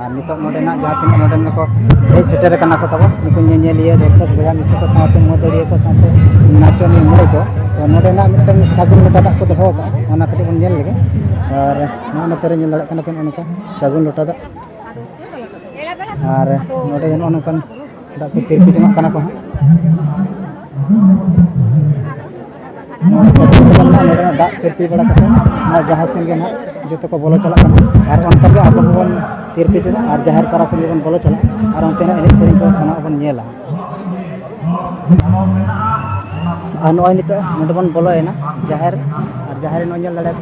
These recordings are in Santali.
ᱟᱨ ᱱᱤᱛᱚᱜ ᱱᱚᱰᱮᱱᱟᱜ ᱡᱟᱦᱟᱸ ᱛᱤᱱᱟᱹᱜ ᱱᱚᱰᱮᱱ ᱠᱚ ᱦᱮᱡ ᱥᱮᱴᱮᱨ ᱟᱠᱟᱱᱟ ᱠᱚ ᱛᱟᱵᱚᱱ ᱱᱩᱠᱩ ᱧᱮᱧᱮᱞᱤᱭᱟᱹ ᱫᱚᱨᱥᱚᱠ ᱵᱚᱭᱦᱟ ᱢᱤᱥᱤ ᱠᱚ ᱥᱟᱶᱛᱮ ᱢᱟᱹᱫᱟᱹᱲᱤᱭᱟᱹ ᱠᱚ ᱥᱟᱶᱛᱮ ᱱᱟᱪᱚᱱᱤᱭᱟᱹ ᱢᱩᱬᱩ ᱠᱚ ᱛᱚ ᱱᱚᱰᱮᱱᱟᱜ ᱢᱤᱫᱴᱮᱱ ᱥᱟᱹᱜᱩᱱ ᱞᱚᱴᱟ ᱫᱟᱜ ᱠᱚ ᱫᱚᱦᱚ ᱟᱠᱟᱫᱼᱟ ᱚᱱᱟ ᱠᱟᱹᱴᱤᱡ ᱵᱚᱱ ᱧᱮᱞ ᱞᱮᱜᱮ ᱟᱨ ᱱᱚᱜᱼᱚ ᱱᱚᱛᱮ ᱨᱮ ᱧᱮᱞ ᱫᱟᱲᱮᱭᱟᱜ ᱠᱟᱱᱟ ᱯᱮ ᱱᱚᱜᱼᱚ ᱱᱚᱝᱠᱟ ᱥᱟᱹᱜᱩᱱ ᱞᱚᱴᱟ ᱫᱟᱜ ᱟᱨ ᱱᱚᱰᱮ ᱱᱚᱜᱼᱚ ᱱᱚᱝᱠᱟᱱ ᱫᱟᱜ ᱠᱚ ᱛᱤᱨᱯᱤ ᱡᱚᱱᱟᱜ ᱠᱟᱱᱟ ᱠᱚ ᱦᱟᱸᱜ ᱱᱚᱜᱼᱚᱭ ᱥᱮ ᱛᱮᱦᱮᱧ ᱫᱚ ᱱᱟᱦᱟᱜ ᱱᱚᱰᱮᱱᱟᱜ ᱫᱟᱜ ᱛᱤᱨᱯᱤ ᱵᱟᱲᱟ ᱠᱟᱛᱮᱫ ᱱᱚᱣᱟ ᱡᱟᱦᱮᱨ ᱥᱮᱱ ᱜᱮ ᱱᱟᱦᱟᱜ ᱡᱚᱛᱚ ᱠᱚ ᱵᱚᱞᱚ ᱪᱟᱞᱟᱜ ᱠᱟᱱᱟ ᱟᱨ ᱚᱱᱠᱟ ᱜᱮ ᱟᱵᱚ ᱦᱚᱸᱵᱚᱱ ᱛᱤᱨᱯᱤ ᱠᱮᱫᱟ ᱟᱨ ᱡᱟᱦᱮᱨ ᱛᱟᱞᱟ ᱥᱮᱱ ᱜᱮᱵᱚᱱ ᱵᱚᱞᱚ ᱪᱟᱞᱟᱜᱼᱟ ᱟᱨ ᱚᱱᱛᱮᱱᱟᱜ ᱮᱱᱮᱡ ᱥᱮᱨᱮᱧ ᱠᱚ ᱥᱟᱱᱟᱢᱟᱜ ᱵᱚᱱ ᱧᱮᱞᱟ ᱟᱨ ᱱᱚᱜᱼᱚᱭ ᱱᱤᱛᱚᱜ ᱱᱚᱰᱮ ᱵᱚᱱ ᱵᱚᱞᱚᱭᱮᱱᱟ ᱡᱟᱦᱮᱨ ᱟᱨ ᱡᱟᱦᱮᱨ ᱱᱚᱜᱼᱚᱭ ᱧᱮᱞ ᱫᱟᱲᱮᱭᱟᱜ ᱠᱟᱱᱟ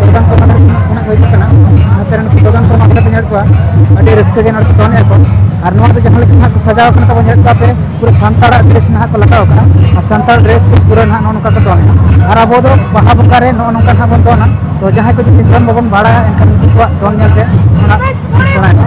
ᱫᱚᱠᱟᱱ ᱠᱚ ᱢᱟᱱᱮ ᱠᱷᱚᱱᱟᱜ ᱠᱚ ᱦᱤᱡᱩᱜ ᱠᱟᱱᱟ ᱱᱚᱛᱮ ᱨᱮᱱ ᱫᱚᱠᱟᱱ ᱠᱚ ᱢᱟᱱᱮ ᱯᱮ ᱧᱮᱞ ᱠᱚᱣᱟ ᱟᱹᱰᱤ ᱨᱟᱹᱥᱠᱟᱹ ᱜᱮ ᱱᱚᱰᱮ ᱠᱚ ᱫᱚᱱᱮᱫ ᱟᱠᱚ ᱟᱨ ᱱᱚᱣᱟ ᱫᱚ ᱡᱟᱦᱟᱸ ᱞᱮᱠᱟ ᱱᱟᱦᱟᱜ ᱠᱚ ᱥᱟᱡᱟᱣ ᱠᱟᱱᱟ ᱛᱟᱵᱚ ᱧᱮᱞ ᱠᱚᱣᱟ ᱯᱮ ᱯᱩᱨᱟᱹ ᱥᱟᱱᱛᱟᱲᱟᱜ ᱰᱨᱮᱥ ᱱᱟᱦᱟᱜ ᱠᱚ ᱞᱟᱜᱟᱣ ᱠᱟᱜᱼᱟ ᱟᱨ ᱥᱟᱱᱛᱟᱲ ᱰᱨᱮᱥ ᱛᱮ ᱯᱩᱨᱟᱹ ᱱᱟᱦᱟᱜ ᱱᱚᱜᱼᱚ ᱱᱚᱝᱠᱟ ᱠᱚ ᱫᱚᱱᱟ ᱟᱨ ᱟᱵᱚ ᱫᱚ ᱵᱟᱦᱟ ᱵᱚᱸᱜᱟ ᱨᱮ ᱱᱚᱜᱼᱚ ᱱᱚᱝᱠᱟ ᱱᱟᱦᱟᱜ ᱵᱚᱱ ᱫᱚᱱᱟ ᱛᱚ ᱡᱟᱦᱟᱸᱭ ᱠᱚ ᱡᱩᱫᱤ ᱫᱚᱱ ᱵᱟᱵᱚᱱ ᱵᱟᱲᱟᱭᱟ ᱮᱱᱠᱷᱟᱱ ᱩᱱᱠᱩ ᱠᱚᱣᱟᱜ ᱫᱚᱱ ᱧᱮᱞ ᱛᱮ ᱚᱱᱟ ᱥᱮᱬᱟᱭ ᱢᱟ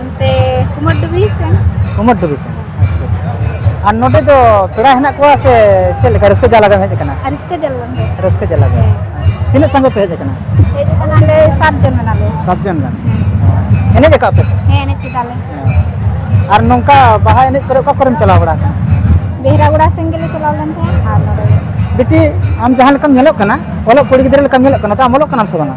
ᱚᱱᱛᱮ ᱠᱩᱢᱟᱨ ᱰᱩᱵᱤ ᱥᱮᱱ ᱠᱩᱢᱟᱨ ᱰᱩᱵᱤ ᱥᱮᱱ ᱟᱨ ᱱᱚᱰᱮ ᱫᱚ ᱯᱮᱲᱟ ᱦᱮᱱᱟᱜ ᱠᱚᱣᱟ ᱥᱮ ᱪᱮᱫ ᱞᱮᱠᱟ ᱨᱟᱹᱥᱠᱟᱹ ᱡᱟᱞᱟ ᱜᱮᱢ ᱦᱮᱡ ᱟᱠᱟᱱᱟ ᱨᱟᱹᱥᱠᱟᱹ ᱡᱟᱞᱟ ᱜᱮ ᱨᱟᱹᱥᱠᱟᱹ ᱡᱟᱞᱟ ᱜᱮ ᱛᱤᱱᱟᱹᱜ ᱥᱟᱸᱜᱮ ᱯᱮ ᱦᱮᱡ ᱟᱠᱟᱱᱟ ᱦᱮᱡ ᱟᱠᱟᱱᱟᱞᱮ ᱥᱟᱛ ᱡᱚᱱ ᱢᱮᱱᱟᱞᱮ ᱥᱟᱛ ᱡᱚᱱ ᱜᱟᱱ ᱮᱱᱮᱡ ᱟᱠᱟᱫ ᱯᱮ ᱦᱮᱸ ᱮᱱᱮᱡ ᱠᱮᱫᱟᱞᱮ ᱟᱨ ᱱᱚᱝᱠᱟ ᱵᱟᱦᱟ ᱮᱱᱮᱡ ᱠᱚᱨᱮ ᱚᱠᱟ ᱠᱚᱨᱮᱢ ᱪᱟᱞᱟᱣ ᱵᱟᱲᱟ ᱟᱠᱟᱱᱟ ᱵᱮᱦᱨᱟᱜᱩᱲᱟ ᱥᱮᱱ ᱜᱮᱞᱮ ᱪᱟᱞᱟᱣ ᱞᱮᱱ ᱛᱟᱦᱮᱸᱫ ᱟᱨ ᱱᱚᱰᱮ ᱵᱤᱴᱤ ᱟᱢ ᱡᱟᱦᱟᱸ ᱞᱮᱠᱟᱢ ᱧᱮᱞᱚᱜ ᱠᱟᱱᱟ ᱚᱞᱚᱜ ᱠᱩᱲᱤ ᱜᱤᱫᱽᱨᱟᱹ ᱞᱮᱠᱟᱢ ᱧᱮᱞᱚᱜ ᱠᱟᱱᱟ ᱛᱚ ᱟᱢ ᱚᱞᱚᱜ ᱠᱟᱱᱟᱢ ᱥᱮ ᱵᱟᱝᱟ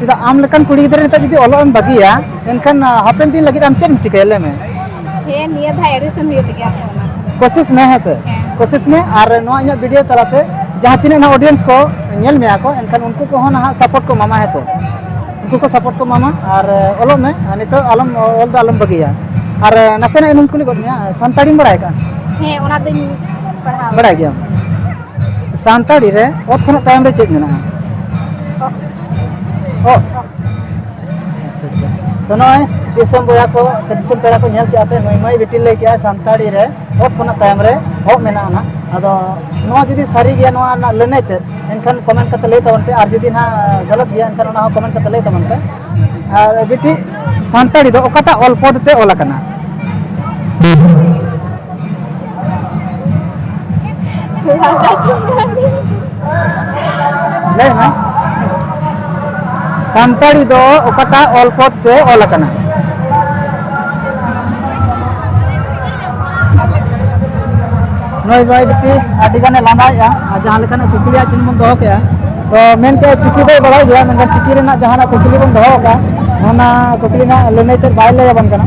ᱪᱮᱫᱟᱜ ᱟᱢ ᱞᱮᱠᱟᱱ ᱠᱩᱲᱤ ᱜᱤᱫᱽᱨᱟᱹ ᱱᱤᱛᱚᱜ ᱡᱩᱫᱤ ᱚᱞᱚᱜ ᱮᱢ ᱵᱟᱹᱜᱤᱭᱟ ᱮᱱᱠᱷᱟᱱ ᱦᱟᱯᱮᱱ ᱫᱤᱱ ᱞᱟᱹᱜᱤᱫ ᱟᱢ ᱪᱮᱫ ᱮᱢ ᱪᱤᱠᱟᱹᱭᱟ ᱞᱟᱹᱭ ᱢᱮ ᱦᱮᱸ ᱱᱤᱭᱟᱹ ᱫᱷᱟᱣ ᱮᱰᱢᱤᱥᱚᱱ ᱦᱩᱭᱩᱜ ᱞᱟᱹᱜᱤᱫ ᱟᱯᱮ ᱚᱱᱟ ᱠᱳᱥᱤᱥ ᱢᱮ ᱦᱮᱸ ᱥᱮ ᱠᱳᱥᱤᱥ ᱢᱮ ᱟᱨ ᱱᱚᱣᱟ ᱤᱧᱟᱹᱜ ᱵᱷᱤᱰᱤᱭᱳ ᱛᱟᱞᱟᱛᱮ ᱡᱟᱦᱟᱸ ᱛᱤᱱᱟᱹᱜ ᱱᱟᱦᱟᱜ ᱚᱰᱤᱭᱮᱱᱥ ᱠᱚ ᱧᱮᱞ ᱢᱮᱭᱟ ᱠᱚ ᱮᱱᱠᱷᱟᱱ ᱩᱱᱠᱩ ᱠᱚᱦᱚᱸ ᱱᱟᱦᱟᱜ ᱥᱟᱯᱳᱨᱴ ᱠᱚ ᱮᱢᱟᱢᱟ ᱦᱮᱸ ᱥᱮ ᱩᱱᱠᱩ ᱠᱚ ᱥᱟᱯᱳᱨᱴ ᱠᱚ ᱮᱢᱟᱢᱟ ᱟᱨ ᱚᱞᱚᱜ ᱢᱮ ᱟᱨ ᱱᱤᱛᱚᱜ ᱟᱞᱚᱢ ᱚᱞ ᱫᱚ ᱟᱞᱚᱢ ᱵᱟᱹᱜᱤᱭᱟ ᱟᱨ ᱱᱟᱥᱮᱱᱟᱜ ᱤᱧ ᱠᱩᱞᱤ ᱜᱚᱫ ᱢᱮᱭᱟ ᱥᱟᱱᱛᱟᱲᱤᱢ ᱵᱟᱲᱟᱭ ᱠᱟᱜᱼᱟ ᱦᱮᱸ ᱚᱱᱟ ᱫᱚᱧ ᱯᱟᱲᱦᱟᱣ ᱵᱟᱲᱟᱭ ᱜᱮᱭᱟᱢ ᱥᱟᱱᱛᱟᱲᱤ ᱨᱮ ᱚᱛ ᱠᱷᱚᱱᱟᱜ ᱛᱟᱭᱚᱢ ᱨᱮ ᱪᱮᱫ ᱢᱮᱱᱟᱜᱼᱟ ᱚ ᱛᱚ ᱱᱚᱜᱼᱚᱭ ᱫᱤᱥᱚᱢ ᱵᱚᱭᱦᱟ ᱠᱚ ᱥᱮ ᱫᱤᱥᱚᱢ ᱯᱮᱲᱟ ᱠᱚ ᱧᱮᱞ ᱠᱮᱜᱼᱟ ᱯᱮ ᱱᱩᱭ ᱢᱟᱹᱭ ᱵᱤᱴᱤ ᱞᱟᱹᱭ ᱠᱮᱜᱼᱟ ᱥᱟᱱᱛᱟᱲᱤ ᱨᱮ ᱚᱛ ᱠᱷᱚᱱᱟᱜ ᱛᱟᱭᱚᱢ ᱨᱮ ᱚᱜ ᱢᱮᱱᱟᱜᱼᱟ ᱱᱟᱜ ᱟᱫᱚ ᱱᱚᱣᱟ ᱡᱩᱫᱤ ᱥᱟᱹᱨᱤ ᱜᱮᱭᱟ ᱱᱚᱣᱟ ᱨᱮᱱᱟᱜ ᱞᱟᱹᱱᱟᱹᱭ ᱛᱮ ᱮᱱᱠᱷᱟᱱ ᱠᱚᱢᱮᱱᱴ ᱠᱟᱛᱮ ᱞᱟᱹᱭ ᱛᱟᱵᱚᱱ ᱯᱮ ᱟᱨ ᱡᱩᱫᱤ ᱱᱟᱜ ᱜᱟᱞᱚᱛ ᱜᱮᱭᱟ ᱮᱱᱠᱷᱟᱱ ᱚᱱᱟ ᱦᱚᱸ ᱠᱚᱢᱮᱱᱴ ᱠᱟᱛᱮ ᱞᱟᱹᱭ ᱛᱟᱵᱚᱱ ᱯᱮ ᱟᱨ ᱵᱤᱴᱤ ᱥᱟᱱᱛᱟᱲᱤ ᱫᱚ ᱚᱠᱟᱴᱟᱜ ᱚᱞ ᱯᱚᱫ ᱛᱮ ᱚᱞ ᱟᱠᱟᱱᱟ ᱞᱟᱹᱭ ᱢᱮ ᱥᱟᱱᱛᱟᱲᱤ ᱫᱚ ᱚᱠᱟᱴᱟᱜ ᱚᱞ ᱯᱚᱫ ᱛᱮ ᱚᱞ ᱟᱠᱟᱱᱟ ᱱᱚᱭ ᱵᱟᱭ ᱵᱤᱴᱤ ᱟᱹᱰᱤ ᱜᱟᱱᱮ ᱞᱟᱸᱫᱟᱭᱮᱜᱼᱟ ᱟᱨ ᱡᱟᱦᱟᱸ ᱞᱮᱠᱟᱱᱟᱜ ᱠᱩᱠᱞᱤᱭᱟᱜ ᱪᱤᱱ ᱵᱚᱱ ᱫᱚᱦᱚ ᱠᱮᱜᱼᱟ ᱛᱚ ᱢᱮᱱ ᱠᱮᱜᱼᱟ ᱪᱤᱠᱤ ᱫᱚᱭ ᱵᱟᱲᱟᱭ ᱜᱮᱭᱟ ᱢᱮᱱᱠᱷᱟᱱ ᱪᱤᱠᱤ ᱨᱮᱱᱟᱜ ᱡᱟᱦᱟᱱᱟᱜ ᱠᱩᱠᱞᱤ ᱵᱚᱱ ᱫᱚᱦᱚ ᱠᱟᱜᱼᱟ ᱚᱱᱟ ᱠᱩᱠᱞᱤ ᱨᱮᱱᱟᱜ ᱞᱟᱹᱱᱟᱹᱭ ᱛᱮᱫ ᱵᱟᱭ ᱞᱟᱹᱭ ᱟᱵᱚᱱ ᱠᱟᱱᱟ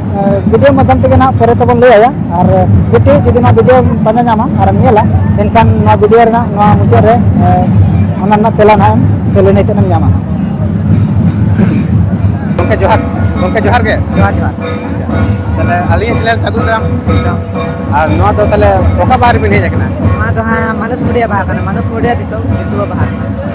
ᱵᱷᱤᱰᱤᱭᱳ ᱢᱟᱫᱽᱫᱷᱚᱢ ᱛᱮᱜᱮ ᱱᱟᱦᱟᱜ ᱯᱚᱨᱮ ᱛᱮᱵᱚᱱ ᱞᱟᱹᱭᱟᱭᱟ ᱟᱨ ᱡᱩᱫᱤ ᱡᱩᱫᱤ ᱱᱚᱣᱟ ᱵᱷᱤᱰᱤᱭᱳ ᱯᱟᱸᱡᱟ ᱧᱟᱢᱟ ᱟᱨᱮᱢ ᱧᱮᱞᱟ ᱮᱱᱠᱷᱟᱱ ᱱᱚᱣᱟ ᱵᱷᱤᱰᱤᱭᱳ ᱨᱮᱱᱟᱜ ᱱᱚᱣᱟ ᱢᱩᱪᱟᱹᱫ ᱨᱮ ᱚᱱᱟ ᱨᱮᱱᱟᱜ ᱛᱮᱞᱟ ᱱᱟᱦᱟᱜ ᱥᱮ ᱞᱟᱹᱱᱟᱹᱭ ᱛᱮᱫ ᱮᱢ ᱧᱟᱢᱟ ᱜᱚᱢᱠᱮ ᱡᱚᱦᱟᱨ ᱜᱚᱢᱠᱮ ᱡᱚᱦᱟᱨ ᱜᱮ ᱡᱚᱦᱟᱨ ᱡᱚᱦᱟᱨ ᱛᱟᱦᱚᱞᱮ ᱟᱹᱞᱤᱧᱟᱜ ᱪᱮᱱᱮᱞ ᱥᱟᱹᱜᱩᱱ ᱫᱟᱨᱟᱢ ᱟᱨ ᱱᱚᱣᱟ ᱫᱚ ᱛᱟᱦᱚᱞᱮ ᱚᱠᱟ ᱵᱟᱦᱟ ᱨᱮᱵᱤᱱ ᱦᱮᱡ ᱟᱠᱟᱱᱟ ᱱᱚᱣᱟ ᱫᱚ ᱦᱟᱸᱜ ᱢᱟᱱᱚᱥ ᱢᱩᱰᱤᱭᱟ ᱵᱟᱦᱟ ᱠᱟᱱᱟ ᱢᱟᱱᱚᱥ ᱢᱩᱰᱤᱭᱟ ᱫᱤᱥᱚᱢ ᱫᱤᱥᱩᱣᱟᱹ ᱵᱟᱦᱟ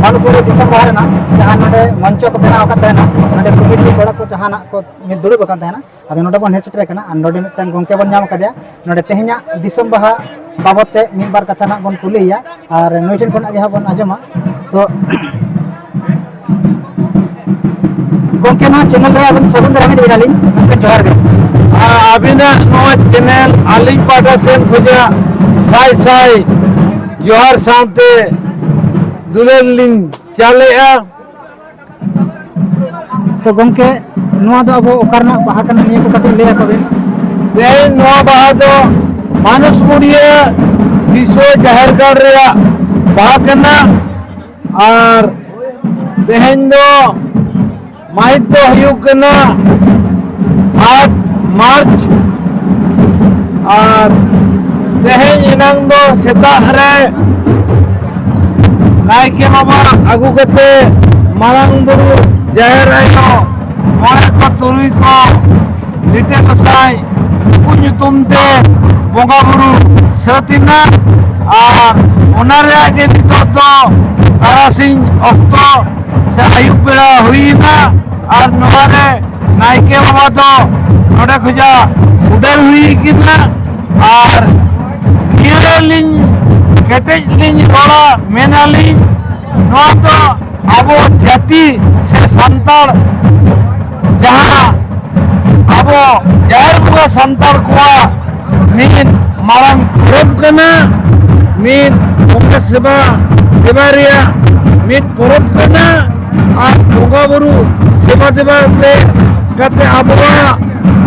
ᱵᱟᱞᱩᱥᱩᱨᱤ ᱫᱤᱥᱚᱢ ᱵᱟᱦᱟ ᱨᱮᱱᱟᱜ ᱡᱟᱦᱟᱸ ᱱᱚᱰᱮ ᱢᱚᱧᱪᱚ ᱠᱚ ᱵᱮᱱᱟᱣ ᱟᱠᱟᱫ ᱛᱟᱦᱮᱱᱟ ᱱᱚᱰᱮ ᱠᱚᱢᱤᱴᱤ ᱠᱚᱲᱟ ᱠᱚ ᱡᱟᱦᱟᱱᱟᱜ ᱠᱚ ᱢᱤᱫ ᱫᱩᱲᱩᱵ ᱟᱠᱟᱱ ᱛᱟᱦᱮᱱᱟ ᱟᱫᱚ ᱱᱚᱰᱮ ᱵᱚᱱ ᱦᱮᱡ ᱥᱮᱴᱮᱨ ᱟᱠᱟᱱᱟ ᱟᱨ ᱱᱚᱰᱮ ᱢᱤᱫᱴᱟᱝ ᱜᱚᱝᱠᱮ ᱵᱚᱱ ᱧᱟᱢ ᱟᱠᱟᱫᱮᱭᱟ ᱱᱚᱰᱮ ᱛᱮᱦᱮᱧᱟᱜ ᱫᱤᱥᱚᱢ ᱵᱟᱦᱟ ᱵᱟᱵᱚᱫ ᱛᱮ ᱢᱤᱫ ᱵᱟᱨ ᱠᱟᱛᱷᱟ ᱱᱟᱜ ᱵᱚᱱ ᱠᱩᱞᱤᱭᱮᱭᱟ ᱟᱨ ᱱᱩᱭ ᱴᱷᱮᱱ ᱠᱷᱚᱱᱟᱜ ᱜᱮ ᱦᱟᱸᱜ ᱵᱚᱱ ᱟᱸᱡᱚᱢᱟ ᱛᱚ ᱜᱚᱝᱠᱮ ᱱᱚᱣᱟ ᱪᱮᱱᱮᱞ ᱨᱮ ᱟᱵᱤᱱ ᱥᱟᱹᱜᱩᱱ ᱫᱟᱨᱟᱢ ᱤᱫᱤ ᱟᱹᱞᱤᱧ ᱜᱚᱝᱠᱮ ᱡᱚᱦᱟᱨ ᱜᱮ ᱟᱵᱤᱱᱟᱜ ᱱᱚᱣᱟ ᱪᱮᱱᱮᱞ ᱟᱹᱞᱤᱧ ᱯᱟᱦᱴᱟ ᱥᱮᱱ ᱠᱷᱚᱱᱟᱜ ᱥᱟᱭ ᱥᱟᱭ ᱡᱚᱦᱟᱨ ᱥᱟᱶᱛᱮ ᱫᱩᱞᱟᱹᱲ ᱞᱤᱧ ᱪᱟᱞᱮᱜᱼᱟ ᱛᱚ ᱜᱚᱝᱠᱮ ᱱᱚᱣᱟ ᱫᱚ ᱟᱵᱚ ᱚᱠᱟ ᱨᱮᱱᱟᱜ ᱵᱟᱦᱟ ᱠᱟᱱᱟ ᱱᱤᱭᱟᱹ ᱠᱚ ᱠᱟᱹᱴᱤᱡ ᱞᱟᱹᱭ ᱟᱠᱚᱵᱤᱱ ᱛᱮᱦᱮᱧ ᱱᱚᱣᱟ ᱵᱟᱦᱟ ᱫᱚ ᱢᱟᱱᱩᱥ ᱢᱩᱲᱤᱭᱟᱹ ᱫᱤᱥᱩᱣᱟᱹ ᱡᱟᱦᱮᱨ ᱜᱟᱲ ᱨᱮᱭᱟᱜ ᱵᱟᱦᱟ ᱠᱟᱱᱟ ᱟᱨ ᱛᱮᱦᱮᱧ ᱫᱚ ᱢᱟᱹᱦᱤᱛ ᱫᱚ ᱦᱩᱭᱩᱜ ᱠᱟᱱᱟ ᱟᱴ ᱢᱟᱨᱪ ᱟᱨ ᱛᱮᱦᱮᱧ ᱮᱱᱟᱝ ᱫᱚ ᱥᱮᱛᱟᱜ ᱨᱮ ᱱᱟᱭᱠᱮ ᱵᱟᱵᱟ ᱟᱹᱜᱩ ᱠᱟᱛᱮ ᱢᱟᱨᱟᱝ ᱵᱩᱨᱩ ᱡᱟᱦᱮᱨ ᱟᱭᱳ ᱢᱚᱬᱮ ᱠᱚ ᱛᱩᱨᱩᱭ ᱠᱚ ᱞᱤᱴᱟᱹ ᱜᱚᱸᱥᱟᱭ ᱩᱱᱠᱩ ᱧᱩᱛᱩᱢ ᱛᱮ ᱵᱚᱸᱜᱟ ᱵᱩᱨᱩ ᱥᱟᱹᱛ ᱮᱱᱟ ᱟᱨ ᱚᱱᱟ ᱨᱮᱭᱟᱜ ᱜᱮ ᱱᱤᱛᱚᱜ ᱫᱚ ᱛᱟᱨᱟᱥᱤᱧ ᱚᱠᱛᱚ ᱥᱮ ᱟᱹᱭᱩᱵ ᱵᱮᱲᱟ ᱦᱩᱭᱮᱱᱟ ᱟᱨ ᱱᱚᱣᱟ ᱨᱮ ᱱᱟᱭᱠᱮ ᱵᱟᱵᱟ ᱫᱚ ᱱᱚᱰᱮ ᱠᱷᱚᱡᱟᱜ ᱩᱰᱟᱹᱨ ᱦᱩᱭ ᱠᱟᱱᱟ ᱟᱨ ᱱᱤᱭᱟᱹ ᱞᱤᱧ ᱠᱮᱴᱮᱡ ᱞᱤᱧ ᱨᱚᱲᱟ ᱢᱮᱱᱟᱞᱤᱧ ᱱᱚᱣᱟ ᱫᱚ ᱟᱵᱚ ᱡᱟᱹᱛᱤ ᱥᱮ ᱥᱟᱱᱛᱟᱲ ᱡᱟᱦᱟᱸ ᱟᱵᱚ ᱡᱟᱦᱮᱨ ᱵᱚᱸᱜᱟ ᱥᱟᱱᱛᱟᱲ ᱠᱚᱣᱟᱜ ᱢᱤᱫ ᱢᱟᱨᱟᱝ ᱯᱚᱨᱚᱵᱽ ᱠᱟᱱᱟ ᱢᱤᱫ ᱵᱚᱸᱜᱟ ᱥᱮᱵᱟ ᱫᱮᱵᱟ ᱨᱮᱭᱟᱜ ᱢᱤᱫ ᱯᱚᱨᱚᱵᱽ ᱠᱟᱱᱟ ᱟᱨ ᱵᱚᱸᱜᱟ ᱵᱩᱨᱩ ᱥᱮᱵᱟ ᱫᱮᱵᱟ ᱛᱮ ᱠᱟᱛᱮ ᱟᱵᱚᱣᱟᱜ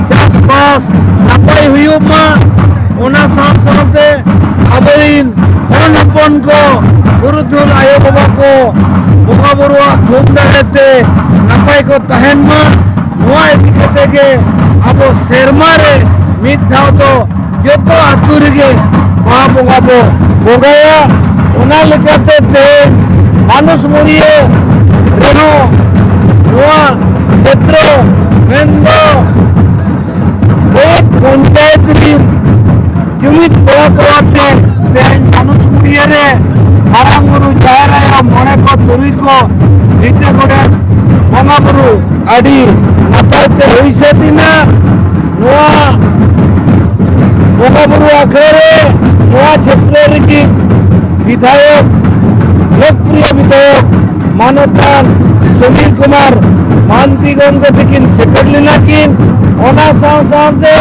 ᱪᱟᱥᱵᱟᱥ ᱱᱟᱯᱟᱭ ᱦᱩᱭᱩᱜ ᱢᱟ ᱚᱱᱟ ᱥᱟᱶ ᱥᱟᱶᱛᱮ ᱟᱵᱚᱨᱤᱱ ᱦᱚᱱ ᱦᱚᱯᱚᱱ ᱠᱚ ᱫᱩᱞ ᱟᱭᱳ ᱵᱟᱵᱟ ᱠᱚ ᱵᱚᱸᱜᱟ ᱵᱩᱨᱩᱣᱟᱜ ᱛᱷᱩᱢ ᱫᱟᱲᱮᱛᱮ ᱱᱟᱯᱟᱭ ᱠᱚ ᱛᱟᱦᱮᱱ ᱢᱟ ᱱᱚᱣᱟ ᱤᱫᱤ ᱠᱟᱛᱮ ᱜᱮ ᱟᱵᱚ ᱥᱮᱨᱢᱟ ᱨᱮ ᱢᱤᱫ ᱫᱷᱟᱣ ᱫᱚ ᱡᱚᱛᱚ ᱟᱛᱳ ᱨᱮᱜᱮ ᱵᱟᱦᱟ ᱵᱚᱸᱜᱟ ᱵᱚ ᱵᱚᱸᱜᱟᱭᱟ ᱚᱱᱟ ᱞᱮᱠᱟᱛᱮ ᱛᱮᱦᱮᱧ ᱢᱟᱱᱩᱥ ᱢᱩᱨᱤᱭᱟᱹ ᱨᱮᱦᱚᱸ ᱱᱚᱣᱟ ᱠᱷᱮᱛᱨᱚ ᱢᱮᱱᱫᱚ ᱯᱚᱧᱪᱟᱭᱮᱛ ᱨᱤᱱ ᱡᱩᱢᱤᱫ ᱜᱚᱲᱚ ᱜᱚᱲᱚᱛᱮ ᱛᱮᱦᱮᱧ ᱢᱟᱱᱩᱥ ᱯᱩᱲᱤᱭᱟᱹ ᱨᱮ ᱢᱟᱨᱟᱝ ᱵᱩᱨᱩ ᱡᱟᱦᱮᱨ ᱟᱭᱳ ᱢᱚᱬᱮ ᱠᱚ ᱛᱩᱨᱩᱭ ᱠᱚ ᱞᱤᱴᱟᱹ ᱜᱚᱰᱮᱛ ᱵᱚᱸᱜᱟ ᱵᱩᱨᱩ ᱟᱹᱰᱤ ᱱᱟᱯᱟᱭ ᱛᱮ ᱦᱩᱭ ᱥᱟᱹᱛ ᱮᱱᱟ ᱱᱚᱣᱟ ᱵᱚᱸᱜᱟ ᱵᱩᱨᱩ ᱟᱠᱷᱲᱟ ᱨᱮ ᱱᱚᱣᱟ ᱪᱷᱮᱛᱨᱚ ᱨᱤᱱᱤᱡ ᱵᱤᱫᱷᱟᱭᱚᱠ ᱞᱳᱠᱯᱨᱤᱭᱚ ᱵᱤᱫᱷᱟᱭᱚᱠ ᱢᱟᱱᱚᱛᱟᱱ ᱥᱚᱢᱤᱨ ᱠᱩᱢᱟᱨ ᱢᱟᱱᱛᱤ ᱜᱚᱢᱠᱮ ᱛᱟᱹᱠᱤᱱ ᱥᱮᱴᱮᱨ ᱞᱮᱱᱟ ᱠᱤᱱ ᱚᱱᱟ ᱥᱟᱶ ᱥᱟᱶᱛᱮ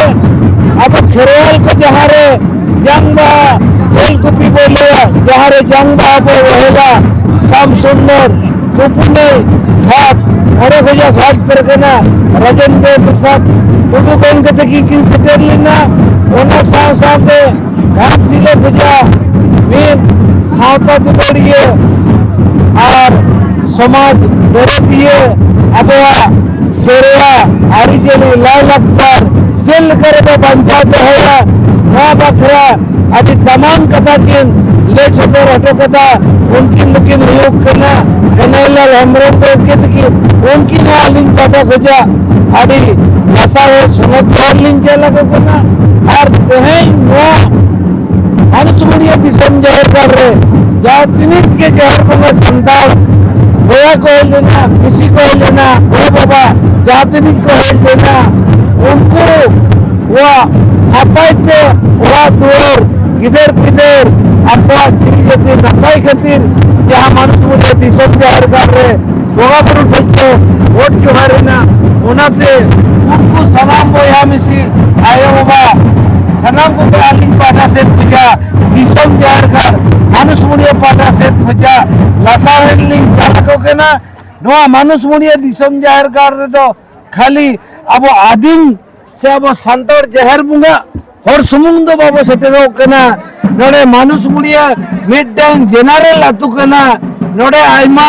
ᱟᱵᱚ ᱠᱷᱮᱨᱣᱟᱞ ᱠᱚ ᱡᱟᱦᱟᱸᱨᱮ ᱡᱟᱝ ᱵᱟᱦᱟ ᱛᱮᱞ ᱠᱩᱯᱤ ᱵᱚ ᱞᱟᱹᱭᱟ ᱡᱟᱦᱟᱸᱨᱮ ᱡᱟᱝ ᱵᱟᱦᱟ ᱵᱚ ᱮᱦᱚᱵᱟ ᱥᱟᱢ ᱥᱩᱱᱫᱚᱨ ᱛᱩᱯᱩᱱᱟᱹᱭ ᱜᱷᱟᱴ ᱚᱸᱰᱮ ᱠᱷᱚᱱᱟᱜ ᱜᱷᱟᱴ ᱯᱮᱨᱮᱠᱟᱱᱟ ᱨᱟᱡᱮᱱᱫᱨᱚ ᱯᱨᱚᱥᱟᱫᱽ ᱴᱩᱰᱩ ᱜᱚᱢᱠᱮ ᱛᱟᱹᱠᱤᱱ ᱠᱤᱱ ᱥᱮᱴᱮᱨ ᱞᱮᱱᱟ ᱚᱱᱟ ᱥᱟᱶ ᱥᱟᱶᱛᱮ ᱜᱷᱟᱴᱥᱤᱞᱟᱹ ᱵᱷᱮᱡᱟ ᱢᱤᱫ ᱥᱟᱶᱛᱟ ᱫᱩᱞᱟᱹᱲᱤᱭᱟᱹ ᱟᱨ ᱥᱚᱢᱟᱡᱽ ᱵᱮᱨᱮᱛᱤᱭᱟᱹ ᱟᱵᱚᱣᱟᱜ ᱥᱮᱨᱣᱟ ᱟᱹᱨᱤᱪᱟᱹᱞᱤ ᱞᱟᱭᱼᱞᱟᱠᱪᱟᱨ ᱪᱮᱫ ᱞᱮᱠᱟ ᱨᱮᱵᱚ ᱵᱟᱧᱪᱟᱣ ᱫᱚᱦᱚᱭᱟ ᱱᱚᱣᱟ ᱵᱟᱠᱷᱨᱟ ᱟᱹᱰᱤ ᱫᱟᱢᱟᱱ ᱠᱟᱛᱷᱟ ᱠᱤᱱ ᱞᱟᱹᱭ ᱥᱚᱫᱚᱨ ᱦᱚᱴᱚ ᱠᱟᱫᱟ ᱩᱱᱠᱤᱱ ᱫᱚᱠᱤᱱ ᱦᱩᱭᱩᱜ ᱠᱟᱱᱟ ᱠᱟᱱᱟᱭᱞᱟᱞ ᱦᱮᱢᱵᱨᱚᱢ ᱜᱚᱢᱠᱮ ᱛᱟᱹᱠᱤᱱ ᱩᱱᱠᱤᱱ ᱦᱚᱸ ᱟᱹᱞᱤᱧ ᱯᱟᱦᱴᱟ ᱠᱷᱚᱡᱟᱜ ᱟᱹᱰᱤ ᱱᱟᱥᱟᱣ ᱥᱚᱱᱚᱛ ᱫᱚᱨ ᱞᱤᱧ ᱧᱮᱞ ᱟᱠᱚ ᱠᱟᱱᱟ ᱟᱨ ᱛᱮᱦᱮᱧ ᱱᱚᱣᱟ ᱟᱹᱱᱩᱪᱩᱢᱟᱹᱲᱤᱭᱟᱹ ᱫᱤᱥᱚᱢ ᱡᱟᱦᱮᱨ ᱜᱟᱲ ᱨᱮ ᱡᱟᱦᱟᱸ ᱛᱤᱱᱟᱹᱜ ᱜᱮ ᱡᱟᱦᱮᱨ ᱵᱚᱸᱜᱟ ᱥᱟᱱᱛᱟᱲ ᱵᱚᱭᱦᱟ ᱠᱚ ᱦᱮᱡ ᱞᱮᱱᱟ ᱵᱤᱥᱤ ᱠᱚ ᱦᱮᱡ ᱞᱮᱱᱟ ᱜᱚ ᱵᱟᱵᱟ ᱡᱟᱦᱟᱸ ᱛᱤᱱᱟᱹᱜ ᱠᱚ ᱦᱮᱡ ᱞᱮᱱᱟ ᱩᱱᱠᱩ ᱠᱚᱣᱟᱜ ᱱᱟᱯᱟᱭ ᱛᱮ ᱚᱲᱟᱜ ᱫᱩᱣᱟᱹᱨ ᱜᱤᱫᱟᱹᱨ ᱯᱤᱫᱟᱹᱨ ᱟᱠᱚᱣᱟᱜ ᱡᱤᱣᱤ ᱡᱟᱹᱛᱤ ᱱᱟᱯᱟᱭ ᱠᱷᱟᱹᱛᱤᱨ ᱡᱟᱦᱟᱸ ᱢᱟᱹᱱᱩᱪᱩᱢᱟᱹᱲᱤᱭᱟᱹ ᱫᱤᱥᱚᱢ ᱡᱟᱦᱮᱨ ᱜᱟᱲ ᱨᱮ ᱵᱚᱸᱜᱟ ᱵᱩᱨᱩ ᱴᱷᱮᱡ ᱠᱚ ᱵᱷᱳᱴ ᱡᱚᱦᱟᱨ ᱮᱱᱟ ᱚᱱᱟᱛᱮ ᱩᱱᱠᱩ ᱥᱟᱱᱟᱢ ᱵᱚᱭᱦᱟ ᱢᱤᱥᱤ ᱟᱭᱳ ᱵᱟᱵᱟ ᱥᱟᱱᱟᱢ ᱠᱚᱜᱮ ᱟᱹᱞᱤᱧ ᱯᱟᱦᱴᱟ ᱥᱮᱫ ᱠᱷᱚᱡᱟᱜ ᱫᱤᱥᱚᱢ ᱡᱟᱦᱮᱨ ᱜᱟᱲ ᱢᱟᱱᱩᱥ ᱢᱩᱲᱤᱭᱟᱹ ᱯᱟᱦᱴᱟ ᱥᱮᱫ ᱠᱷᱚᱡᱟᱜ ᱞᱟᱥᱟᱲᱦᱮᱫ ᱞᱤᱧ ᱪᱟᱞ ᱟᱠᱚ ᱠᱟᱱᱟ ᱱᱚᱣᱟ ᱢᱟᱱᱩᱥ ᱢᱩᱲᱤᱭᱟᱹ ᱫᱤᱥᱚᱢ ᱡᱟᱦᱮᱨ ᱜᱟᱲ ᱨᱮᱫᱚ ᱠᱷᱟᱹᱞᱤ ᱟᱵᱚ ᱟᱹᱫᱤᱢ ᱥᱮ ᱟᱵᱚ ᱥᱟᱱᱛᱟᱲ ᱡᱟᱦᱮᱨ ᱵᱚᱸᱜᱟ ᱦᱚᱲ ᱥᱩᱢᱩᱝ ᱫᱚ ᱵᱟᱵᱚ ᱥᱮᱴᱮᱨᱚᱜ ᱠᱟᱱᱟ ᱱᱚᱰᱮ ᱢᱟᱱᱩᱥ ᱢᱩᱲᱤᱭᱟ ᱢᱤᱫᱴᱟᱝ ᱡᱮᱱᱟᱨᱮᱞ ᱟᱹᱛᱩ ᱠᱟᱱᱟ ᱱᱚᱰᱮ ᱟᱭᱢᱟ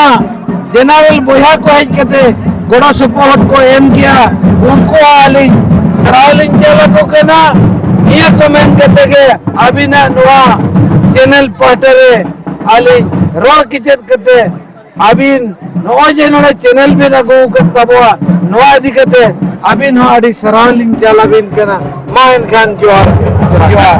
ᱡᱮᱱᱟᱨᱮᱞ ᱵᱚᱭᱦᱟ ᱠᱚ ᱦᱮᱡ ᱠᱟᱛᱮ ᱜᱚᱲᱚ ᱥᱚᱯᱚᱦᱚᱫ ᱠᱚ ᱮᱢ ᱜᱮᱭᱟ ᱩᱱᱠᱩ ᱟᱹᱞᱤᱧ ᱥᱟᱨᱦᱟᱣ ᱞᱤᱧ ᱪᱟᱞ ᱟᱠᱚ ᱠᱟᱱᱟ ᱱᱤᱭᱟᱹ ᱠᱚ ᱢᱮᱱ ᱠᱟᱛᱮ ᱜᱮ ᱟᱹᱵᱤᱱᱟᱜ ᱱᱚᱣᱟ ᱪᱮᱱᱮᱞ ᱯᱟᱦᱴᱟ ᱨᱮ ᱟᱹᱞᱤᱧ ᱨᱚᱲ ᱠᱮᱪᱮᱫ ᱠᱟᱛᱮ ᱟᱹᱵᱤᱱ ᱱᱚᱜᱼᱚᱭ ᱡᱮ ᱱᱚᱰᱮ ᱪᱮᱱᱮᱞ ᱵᱤᱱ ᱟᱹᱜᱩ ᱟᱠᱟᱫ ᱛᱟᱵᱚᱣᱟ ᱱᱚᱣᱟ ᱤᱫᱤ ᱠᱟᱛᱮ ᱟᱹᱵᱤᱱ ᱦᱚᱸ ᱟᱹᱰᱤ ᱥᱟᱨᱦᱟᱣ ᱞᱤᱧ ᱪᱟᱞ ᱟᱹᱵᱤᱱ ᱠᱟᱱᱟ ᱢᱟ ᱮᱱᱠᱷᱟᱱ ᱡᱚᱦᱟᱨ ᱡᱚᱦᱟᱨ